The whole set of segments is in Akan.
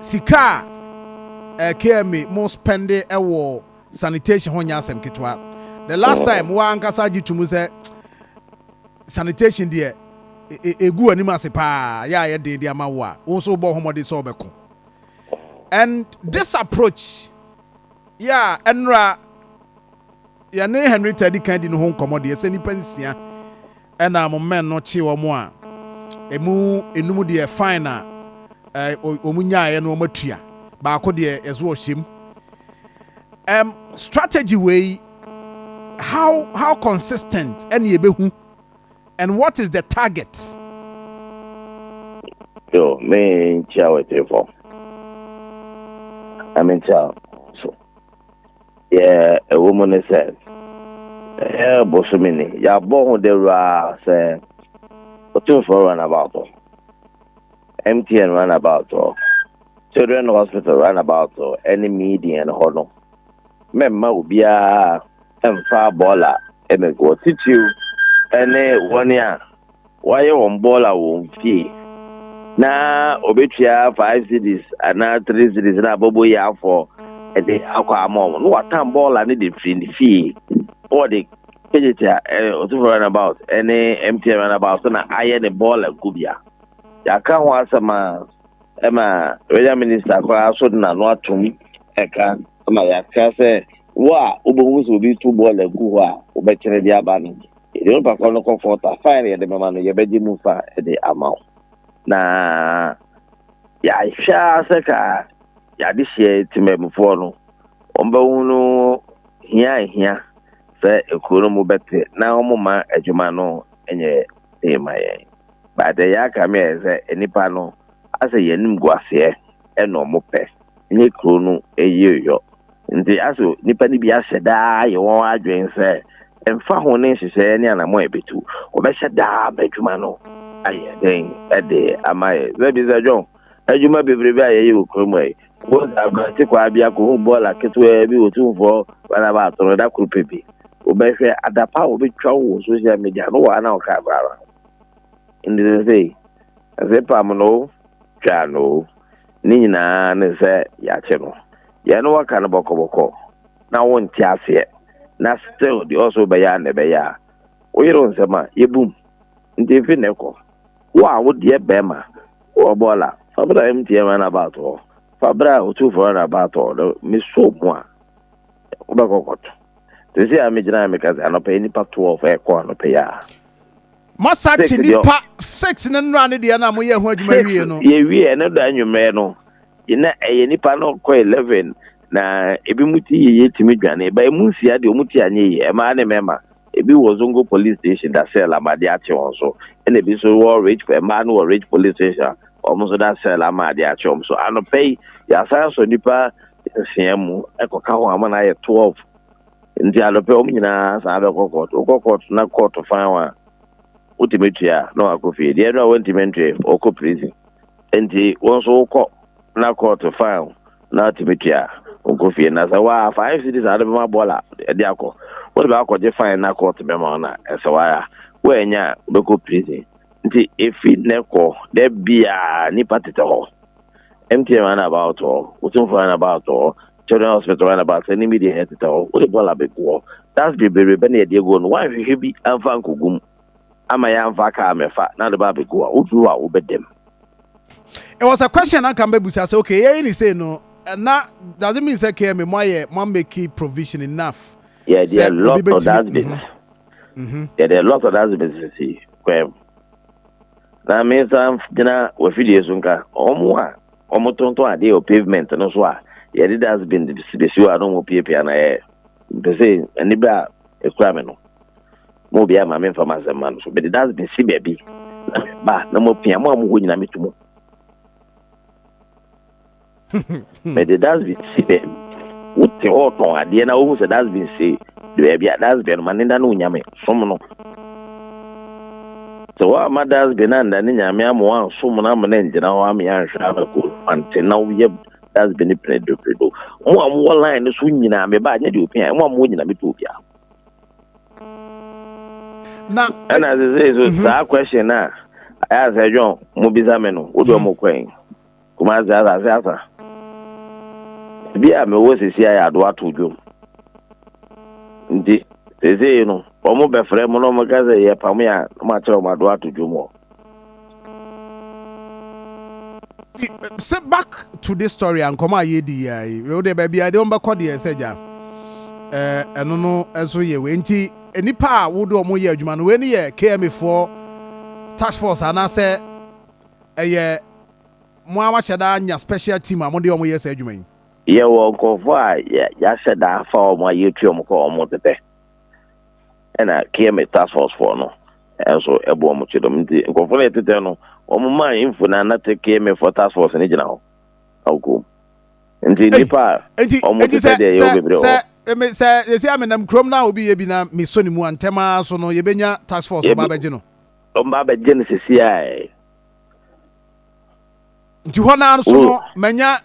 Sika a KMA mo spɛnde wɔ sanitation ho nyɛ asɛm ketewa. The last time wo ankasa gye to mu sɛ sanitation deɛ ɛgu w'anim ase paa yɛ a yɛ den de ama wo a wo nso wobɔ ho mmɔden sɛ wobɛko. And this approach yɛ a ɛnora yɛne Henrietta di kan di no ho nkɔmmɔ deɛ sɛ nnipa nsia Ɛna mo men no kyee wɔn a, ɛmu nnum deɛ fine a wɔn nyaaɛ no wɔn atua, baako deɛ yɛdze ɔhyɛm. Ɛm strategy wei how how consistent ɛne yɛbɛhu and what is the target? Yo, me nkyia wɔ tiri fam. Ame nkyia so. Deɛ ɛwɔ mu ne sɛ, ɛyɛ bosome ni. Yɛabɔ ho dawuro ara sɛ Otumfoɔ Runabout hɔ, MTN Runabout hɔ, Children Hospital Runabout hɔ ne Median hɔ no, mɛmma obiara mfa bɔɔla mmɛgu hɔ, titiriw ne wɔn a wɔayɛ wɔn bɔɔl a wɔn fie na obetua five cities anaa three cities na abobo yi afɔ ɛde akɔ ama wɔn na wɔatan bɔɔl a ne de firi ne fie na wɔde kegyekye a ɛyɛ eh, ɔtofo runabout ɛne eh, mtn runabout so na ayɛ ne bɔɔl agubea yɛaka ho asɛm a ɛma renya minista koraa so de n'ano atom ɛka ma yɛaka sɛ wo a wobɛhu sɛ obi to bɔɔl agu hɔ a wobɛkyerɛ de aba no Yɛde onipa korɔ no kɔ fɔɔta, fae na yɛde bɛma no, yɛbɛgye mu fa de ama wo. Na yɛahwɛ ara sɛ ka y'adehyeɛ temanmufoɔ no, wɔbɛhunu hia a ɛhia sɛ ekuo no mu bɛte na wɔmma adwuma no nyɛ den ma yɛn. But deɛ yɛaka me ayɛ sɛ nnipa no asɛ yɛn animguaseɛ na wɔpɛ. nye kurow no yir yɔ. Ndze aso nyimpa no bi ahyɛ da ayɛ hɔn adwen sɛ mfa ho ne nhyehyɛɛ ne anamɔn a ebetu, wɔbɛhyɛ da ama edwuma no ayɛ dzen de ama yɛ. Dza bi dza John, Edwuma beberebe a yɛyɛ wɔ kurow mu ha yi, mpo dza aberantsɛ kwaa bi akohu bɔɔla ketsewaa bi wɔ Tumfoɔ Barnaba ato no da kor pɛ bi, wobɛhwɛ adapa a wobetwa wo wɔ social media no wɔ ha na wo hwɛ abrabra ho. Ndze sesei, dze pam no o, twaa no o, Ne nyinaa ne sɛ yɛakye no. Yɛne wo aka no bɔkɔbɔkɔ na wonte aseɛ na still deɛ ɔse wobɛyɛ ara na ɛbɛyɛ a woyere wo nsɛm a yɛbum nti mfiri nnɛ kɔ wo a wodeɛ bɛɛma wowɔ bɔɔl a fa bra MTN run about hɔ fa bra Otumfoɔ run about hɔ na me show mu a wobɛkɔ kɔto sɛsei a megyina a meka sɛ anɔpa yi nnipa 12 ɛkɔ anɔpa yi a. Moasakye nipa six no nnora ne deɛ no a moyɛɛ ho adwuma wieɛ no. Six yɛwieɛ ɛno da anwummerɛ no na ɛyɛ nipa no kɔ eleven na ebi mu ti yeye tumi dwane ba emu nsia deɛ ɔmu ti anyɛ yie ɛmaa ne mɛma ebi wɔ zongo police station da cell ama de akye wɔn so ɛna ebi nso wɔ rich ɛmaa no wɔ rich police station wɔn nso da cell ama de akye wɔn so anɔpɛ yi yɛasan so nipa nsia mu ɛkɔka ho ama no ayɛ twelve. Nti anɔpɛ wɔn nyinaa san abɛkɔ kɔɔto. Wokɔ kɔɔto na kɔɔto fan wo a, wotumi tua a na wakɔ fie. Deɛ ɛno a wantumi ntoe, ɔkɔ prison. Nti wo nso wokɔ na kɔɔto fan wo na wotumi tua a, wokɔ fie. Na sɛ waa five cedis a wode bɛma bɔɔla de akɔ, wode bɛ akɔgye fan na kɔɔto bɛma wo na ɛsɛ wo ara. Woannya a, wobɛkɔ prison. Nti efi nnɛ kɔ, da biara nnipa tetɛ hɔ. MTN run about hɔ, Otumfoɔ run about hɔ, Children hospital right about sɛ ne bi deɛ ɛyɛ tetɛ hɔ wode bɔɔl abɛguɔ dust bebrebe na yɛde aguo no woanhwehwɛ bi amfa ankɔgum ama yɛamfa kaa mɛfa na wode ba abɛgu a woduru hɔ a wobɛda mu It was a question anka mbɛbusa sɛ okay yɛyɛ ne sei no na doesn't mean sɛ KMA mo ayɛ mo amake provision enough yɛde sɛ a obi lot of bɛtumi dustbins Mhm, mhm. yɛde a lot of dustbins sisi kwam na me nsa gyina wafidie so nka ɔmo a Ɔmo tonton adeɛ wɔ pavement no so a yɛde dustbin besi hɔ a na ɔmo piapia no ɛɛ mpɛ sɛ aniberɛ a ɛkura me no mo obiara ma me nfa m'asɛm ma no so mede dustbin si baabi na me ba na mo apia mo a mo hɔ nyina me tu mo mede dustbin si baabi wote hɔ tɔn adeɛ na wohu sɛ dustbin si baabi a dustbin no ma ne da no onyame. som no. Sɛ woamma Dads Bena annda ne Nyame amma woannsom no amma no anngyina hɔ ama yɛannhwɛ ama kɔ Mfantsee na woyɛ Dads Bena Penedopedo. Mo a mowɔ line no so nyina meba nnyɛ deɛ opia, mo a mowɔ nyina mepɛ obia. Na ɛna sesei so saa question no a ayɛ asɛ John mobisa me no wode ɔmo kɔ ɛ? Kumasi Asase Asa. Baabi a mewɔ sisi ayɛ adoa to dwom. Nti sesei no, wɔn bɛfrɛ mo na wɔn ka sɛ yɛ pam yɛ a, mo akyerɛ wɔn adoa to dwom hɔ. sɛ back to this story a nkɔmɔ a yɛdi yɛ yi wo deɛ baabi a ɛde wɔn bɛkɔ deɛ sɛ gya ɛno no nso yɛ wei nti nnipa a wode wɔn yɛ adwuma no wei no yɛ KMA foɔ task force anaasɛ ɛyɛ Mo ara moahyɛ da anya special team a mode wɔn yɛ saa adwuma yi? Yɛwɔ nkurɔfoɔ a yɛahyɛ da afa wɔn a yɛtu wɔn kɔ wɔn tetɛ. Ɛna KMA task force foɔ no nso ɛbɔ wɔn kyidɔm. Nti nkurɔfoɔ no a yɛtetɛ no, wɔn maa info na na te KMA foɔ task force no gyina hɔ na wɔkɔ mu. Nti nnipa a wɔn tetɛ deɛ yɛwɔ bebree wɔ hɔ. Nti sɛ sɛsei a menam kurom na obi yɛ bi na mesɔ ne mu a, ntɛm ara so no yɛbɛnya task force ɔba abɛgye no? Ɔba abɛgye no sɛsei ara. nti hɔ naa nso no manya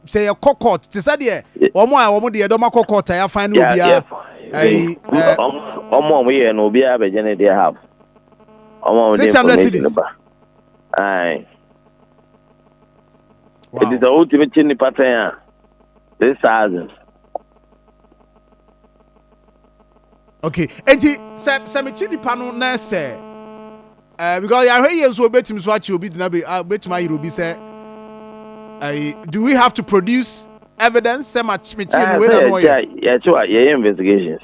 sɛ yɛkɔ court te sɛ deɛ wɔn a wɔn deɛ dɔm akɔ court a yɛafan ne obiara ɛyi ɛɛ. wɔn a wɔyɛ no obiara bɛgye ne deɛ half wɔn a wɔde information ba ayi ɛti sɛ wotumi kye nipa tɛn a six thousand. Okay, enti sɛ sɛ mekyi nipa no na ɛsɛ ɛɛ eh, because yɛahwɛ yie nso obetumi so akyi obi gyina be ah, obetumi ayere obi sɛ ɛɛ eh, do we have to produce evidence sɛ ma mekyi no wei na no ɔyɛ. yɛkyi wa yɛyɛ investigations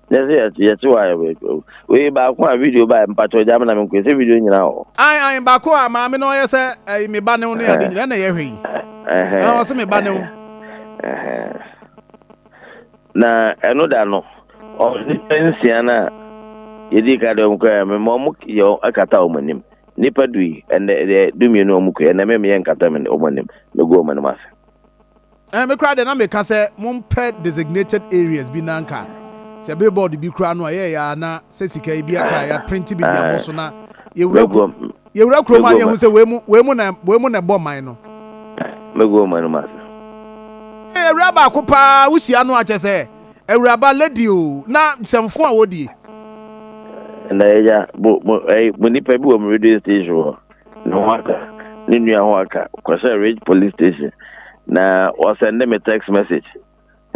yɛsɛ yɛkyi wa yɛ wei baako a video ba mpatsɔ gya mi na mi nkɔ ɛsɛ video nyinaa wɔ. ayi ayi baako a maame na ɔyɛ sɛ ɛɛ eh, mi ba ne ho ne adi nyinaa na yɛhwɛ yi ɛɛ ɔsɛ mi ba ne ho. Na ɛno da no, nnipa nsia no a yɛdii ka de wɔn kɔɛ a, mema wɔn yɛ kata wɔn anim. Nnipa du yi, ɛnɛ deɛ dumienu wɔn kɔɛ, ɛnɛ meme yɛ nkata wɔn anim, megu wɔn anim ase. Eh, me koraa deɛ na meka sɛ mompɛ designated areas bi na anka sɛ billboard bi koraa no a ɛyɛɛ a na sɛ sika yi bi aka a yɛaprinte bi de abɔ so na yɛwura ku. Yɛwura kurom a na yɛhu sɛ wei mu, wei mu na, wei mu na ɛbɔ man no. Mɛgu ɔman no mu ase. Ee, awura baako paa wohyia no a, kyɛ sɛ awuraba, lady o, na sɛmfo a wɔdie. Na yɛnya, mo, mo, ɛyi, mo nipa bi wɔ mo radio station hɔ, ne ho aka, ne nua ho aka, kɔhyɛ Ridge Police Station, na wɔsɛnde me text message.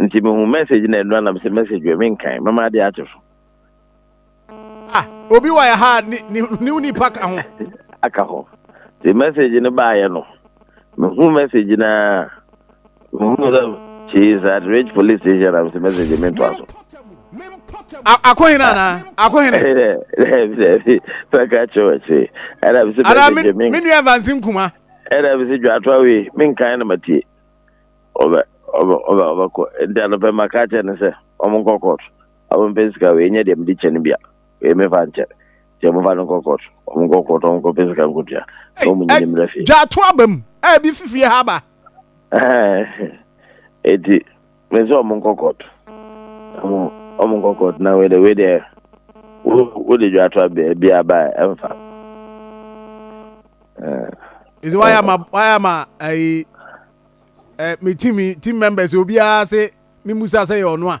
Nti mehu message na ɛnura na mesɛ message wɛ, menkan, mɛma adeɛ akye so. ah obi wɔ yɛ ha ne ne ne wo nipa ka ho aka ho te message no baayɛ no mehu message na mehu sɛ she is at rich police station na mesɛ message mento aso akohene anaa akohene pɛka kyerɛ akyi ɛna mesɛ message me me nua vansi nkuma ɛna mesɛ dwato awe menkan na matie ɔbɛ ɔbɛ ɔbɛ ɔbɛkɔ nti anɔpɛ maka kyerɛ ne sɛ ɔmo nkɔ kɔɔto a wo mpɛ sika wei nyɛ deɛ mede kyɛ no bia wei me fa nkyɛ deɛ mo fa no nkɔ court ɔmo nkɔ court ɔmo nkɔ pɛ sika nkotua na ɔmo nyini mmerɛ fie. Dwato aba mu a ebi fi fie ha aba. Eti me sɛ ɔmo nkɔ court ɔmo ɔmo nkɔ court na wei deɛ wei deɛ wo wo de dwato aba ebi aba ɛnfa. Ezi waya ma waya ma ayi. Eh, me team team members obiara se me musa sɛ yɛ ɔno a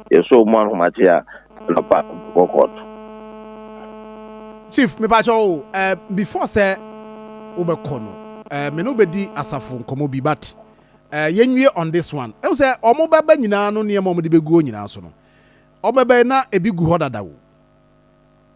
yɛsɔɔ mu ahomakye a anɔpa bɛkɔ court. Chief, mepakyɛ wo, eh, before sɛ wobɛkɔ no, eh, me ne wobɛdi asafo nkɔmmɔ bi, but eh, yɛnwie on this one. Ɛhu sɛ ɔmo bɛba nyinaa no nneɛma ɔmo de bɛguo nyinaa so no, ɔmo bɛbɛn na ebi gu hɔ dada o.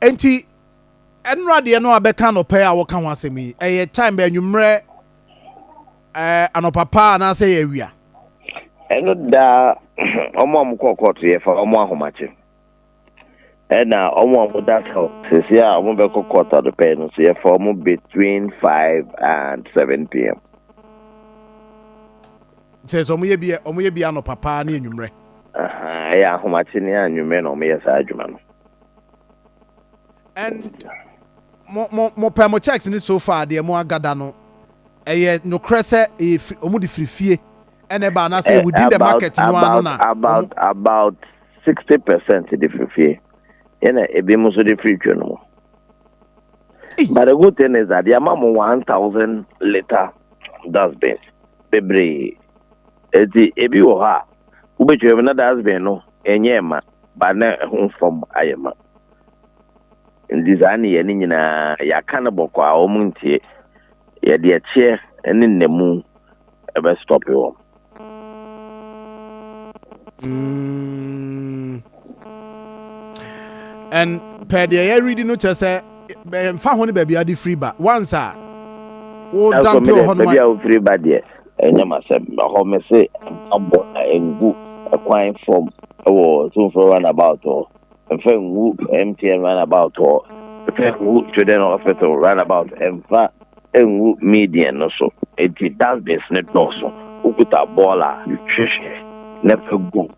Enti ɛnora deɛ no a bɛka anɔpa a wɔka ho asɛm yi ɛyɛ time bɛ anwummerɛ ɛɛ anɔpa paa anaasɛ yɛ awia. ɛno daa wɔn a wɔkɔ kɔɔto yɛfa wɔn ahomakye ɛna wɔn a wɔda sɛl sɛsi a wɔbɛkɔ kɔɔto adɔpɛ no so yɛfa wɔn between five and seven pm. sɛ sɛ wɔyɛ bi wɔyɛ bi anɔpa paa ne anwummerɛ. ɛyɛ ahomakye ne anwummerɛ na wɔyɛ saa adwuma no. And mo mo mo pɛ mo checks ni so far deɛ mo agada no ɛyɛ nokorɛ sɛ ɛyɛ firi ɔmo de firi fie ɛna ɛba anaasɛ within the market no ano na about about sixty percent de firi fie ɛna ebi mo so de firi twɛ no mu but the good thing is that deɛ ama mo one thousand liter dustbin bebree eti ebi wɔ hɔ a wobɛtwa mu na dustbin no ɛnyɛ ɛma. ba na ho fam ayɛ ma. Ntsi saa nneyɛe no nyina yɛaka no bɔkɔ a wɔnntsie. Yɛdze ɛkyeɛ ne nnamu bɛ stɔpe wɔn. Mm. And pɛ deɛ yɛ read no kyerɛ sɛ mfa ho ne baabi ade firi ba once a wo dampe wɔ hɔ no baabi a wofiri ba deɛ Ɛnyɛ m'asɛm. Na hɔ mese mpaabɔ na ɛngu kwan fam wɔ Tumfoɔ Runabout hɔ, ɛmfa ngu MTN Runabout hɔ, ɛmfa ngu Children Hospital Runabout, ɛmfa ngu Median no so. Enti dustbins no dɔɔso. Wokuta bɔɔl a, hwehwɛ na fa gu mu.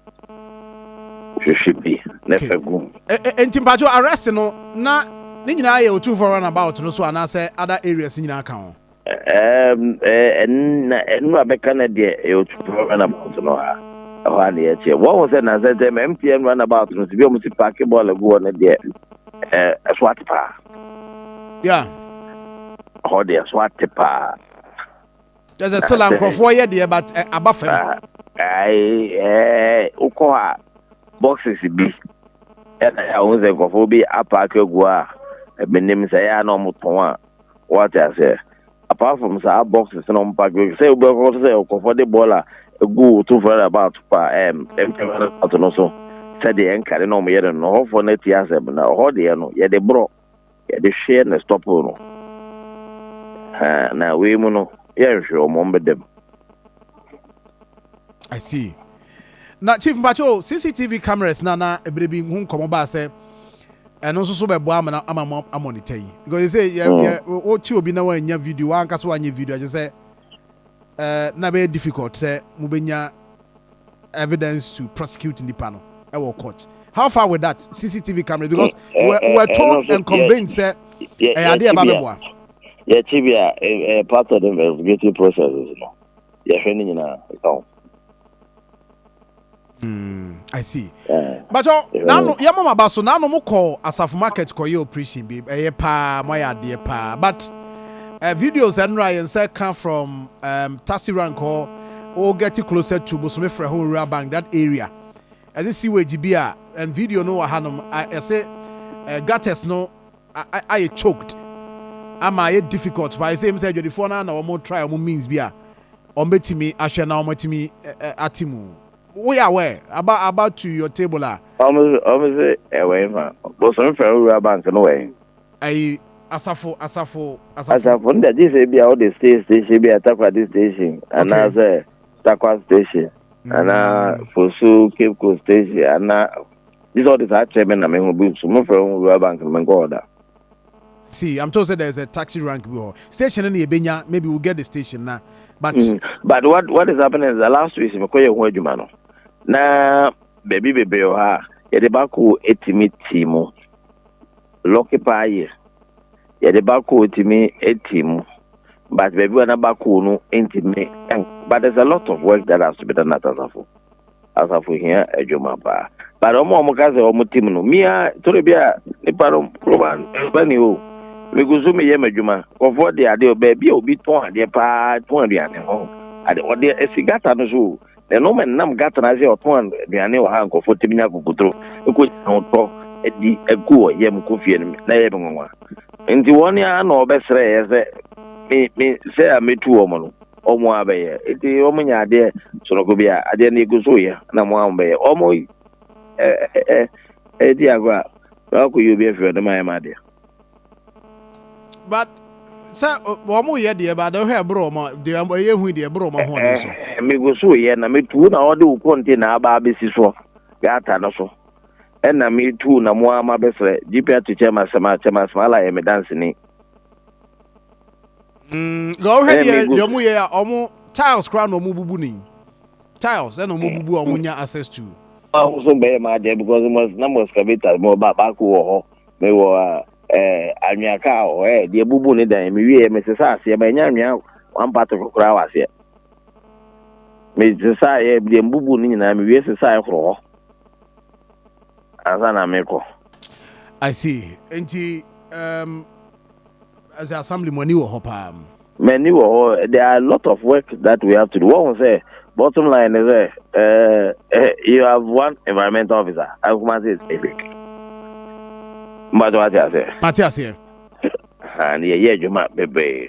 Hwehwɛ bi na fa gu mu. Okay. Enti mpakyɛw arrest no, na ne nyinaa yɛ Otumfoɔ Runabout no so anaasɛ other areas nyinaa ka ho? na ɛno a bɛka no deɛ ɛyɛ ɔtwitɔ runabout no a ɛhɔ a na yɛkyɛ wɔhu sɛ nansɛ sɛ ma mtn runabout no sɛ bi ɔmo si paake bɔɔl agu hɔ no deɛ ɛso ate paa ya hɔ deɛ ɛso ate paa kyɛ sɛ sela nkurɔfoɔ yɛ deɛ but aba fam wokɔ hɔ a boxes bi ɛna yɛ a wohu sɛ nkurɔfoɔ bi apaake agu a ɛmenim sɛ yɛ a na ɔmo tɔn a Wate aseɛ? Apart from saa boxes no mpa dwene sɛ wobɛkɔ so sɛ ɔkɔfɔ de bɔɔl a ɛgu wo to fɛre about pa ɛm ɛm fɛre about no so sɛdeɛ ɛnkade na wɔyɛ no no hɔfoɔ no atie asɛm na hɔ deɛ no yɛde borɔ yɛde hweɛ na stɔpo no ha na wei mu no yɛnhwe wɔn wɔn bɛdam. I see. Na chief mpakyɛ o CCTV cameras na na ɛberɛ bi ho nkɔmɔ baa sɛ ɛno nso so bɛboa ama na ama mo amɔnita yi because they say yɛ yɛ wokye obi na wanya video wanka so wanyɛ video akyɛ sɛ ɛɛ na bɛyɛ difficult sɛ mobɛnya evidence to prosecute nipa no ɛwɔ court how far with that CCTV cameras because we were, were told and convinced sɛ ɛyɛ adeɛ ɛba bɛboa. yɛkye bi a part of the investigative process no. yɛhwɛ ne nyinaa ɛka ho. Mm, I see. Yeah. But oh, now no, yeah, mama baso now no mo call asafo market call your operation be eh pa mo ya de pa. But uh, videos and right and say come from um taxi rank or or getting closer to Bosome Freho Rural Bank that area. As a sewage be and video no hanom I say uh, gutters no ayɛ choked ama ayɛ difficult paa ɛsɛ mu sɛ adwadifoɔ no ara na wɔn try wɔn means bi a wɔn bɛtumi ahwɛ na wɔn atumi ate mu woyɛ aware aba aba to your table a. wɔn sɛ ɛwɔ yi ma bosom fɛn wura bank no wɔ yi. ayi asafo asafo asafo. asafo no dagye sɛ bi a wɔde stay station bi a takoradi station anaasɛ takwa station anaa fosu cape coast station anaa. Gye sɛ ɔde saa kyerɛ me na me ho bi nso. Mofrɛ ho Rural Bank no, menkɔ hɔ da. See, I'm told say there is a taxi rank bi hɔ. Station no na yɛbɛnya, maybe we'll get the station na, but. Mm, but what, what is happening is that last week mekɔyɛ ho adwuma no, na baabi bebree wɔ ha a, yɛde baako tumi ti mu. Lucky paa yɛ. Yɛde baako tumi ti mu. But baabi wɔ na baako no ntumi, but there's a lot of work that has to be done at Asafo. asafo hia adwuma paa but ɔmo ɔmo ka sɛ ɔmo tim no mia tore bi a nipa no roba roba ni o megu so meyɛ m'adwuma kɔfoɔ de adeɛ baabi a obi tɔn adeɛ paa tɔn aduane hɔ ade ɔde esi gata no so o na ɛno ma nam gata no ase ɔtɔn aduane wɔ ha nkɔfoɔ tumi nya kokotoro ɛkɔ gyina ɔtɔ ɛdi ɛku wɔ yam kɔ fie no na ɛyɛ me nwanwa nti wɔn a na ɔbɛsrɛ yɛ sɛ me me sɛ a metu wɔn no Ɔmo ara bɛyɛ. Nti ɔmo nya adeɛ sonoko bi a, adeɛ no yɛgu so yɛ na ɔmo ara ɔmo bɛyɛ. Ɔmo yi ɛ ɛ ɛ di agorɔ a, na ɔkɔ yi obi afiri hɔ na mayɛ m'adeɛ. But sɛ ɔmo yɛ deɛ ba deɛ ɔhwɛ ɛboro ɔmo deɛ ɛyɛ hu deɛ ɛboro ɔmo ahoɔden so. Megu so yɛ na me tu na ɔde wo kɔnte na aba abɛsi soɔ gata no so. Ɛna me tu na mo ara ma bɛsrɛ GPR to chairman sɛ ma chairman Smala yɛ me danseni. nka ɔhwɛ deɛ deɛ ɔmo yɛ a ɔmo tiles koraa na ɔmo bubu ne tiles ɛna ɔmo bubu a ɔmo nya access to. ahosuo bɛyɛ maa deɛ because mo na mo excavator mo ba baako wɔ hɔ me wɔ ɛɛ anwea kaa wɔ hɔ ɛɛ deɛ bubu ne dan me wie me sesa aseɛ ma nya anwea one part of koraa wɔ aseɛ me sesa yɛ deɛ bubu ne nyinaa me wie sesa yɛ korɔ hɔ ansa na me kɔ. I see nti um, As a assembly mo ani wɔ hɔ paa. M'ani wɔ hɔ, there are a lot of work that we have to do, woahu sɛ bottom line ne sɛ eh, you have one environmental officer, Kumasi is epic. Mbato wate aseɛ? Mate aseɛ. Aha, ne yɛyɛ adwuma bebree.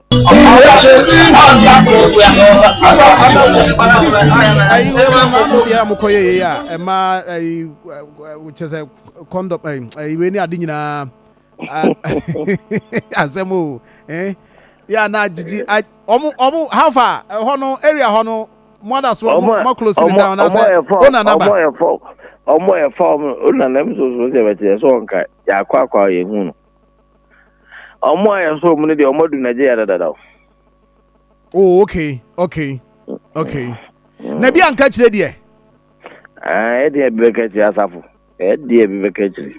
deɛ mokɔyɛ yei a ɛma kyɛ sɛ kɔndɔm wei ne ade nyinaa asɛm o yɛ a na gyigyi ɔmo hafa ɛhɔ no area hɔ no moada so moakolosi ne down nasɛ wonanaba ɔmo ɛfa ɔmo nana mi soso sɛ bɛtɛ yɛ sɛ ɔnka yɛakɔ akɔ a yɛhu no Ọmụ a yɛn soro mu no deɛ ọmụ adu Nigeria dadada o. Oh okay okay okay. Mm. Na bi anka kyerɛ deɛ. Ah, ɛdeɛ eh, bi bɛka akyire asafo. Ɛdeɛ eh, bi bɛka akyire.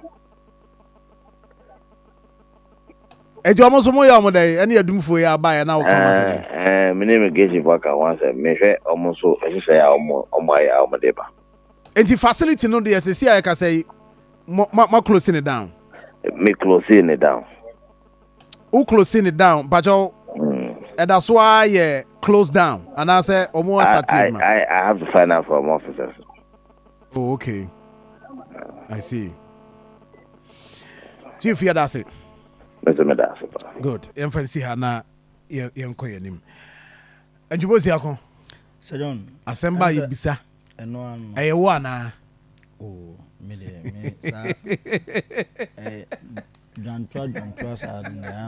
Ɛti ɔmo nso mo yɛ ɔmo dɛ ɛne adumfo yɛ aba yɛ na ɔka ɔmo asɛm. Ɛɛ eh, ɛɛ mi ne immigration fo aka ho asɛm mehwɛ ɔmo nso nhyehyɛ a ɔmo ɔmo ayɛ a ɔmo de ba. Nti facility no deɛ sisi a yɛkasa yi Mo ma ma close ne down. Me close ne down. Wo close ne down bajɔ. Mm. Ɛda so ara yɛ close down anaasɛ wɔn asate adwuma. I, I, I have to find out from officers. Oh, okay. I see. Chief yɛ daase. Mese me daase pa. Good. Yɛn fɛn si ha na yɛn kɔ yɛn nim. Njubo si ako. Sɛ John. Asɛmba yi bisa. Ɛno ara no. Ɛyɛ wo anaa? Oh, me deɛ, me saa, eh, dwantoa dwantoa saa no, ɛyɛ a.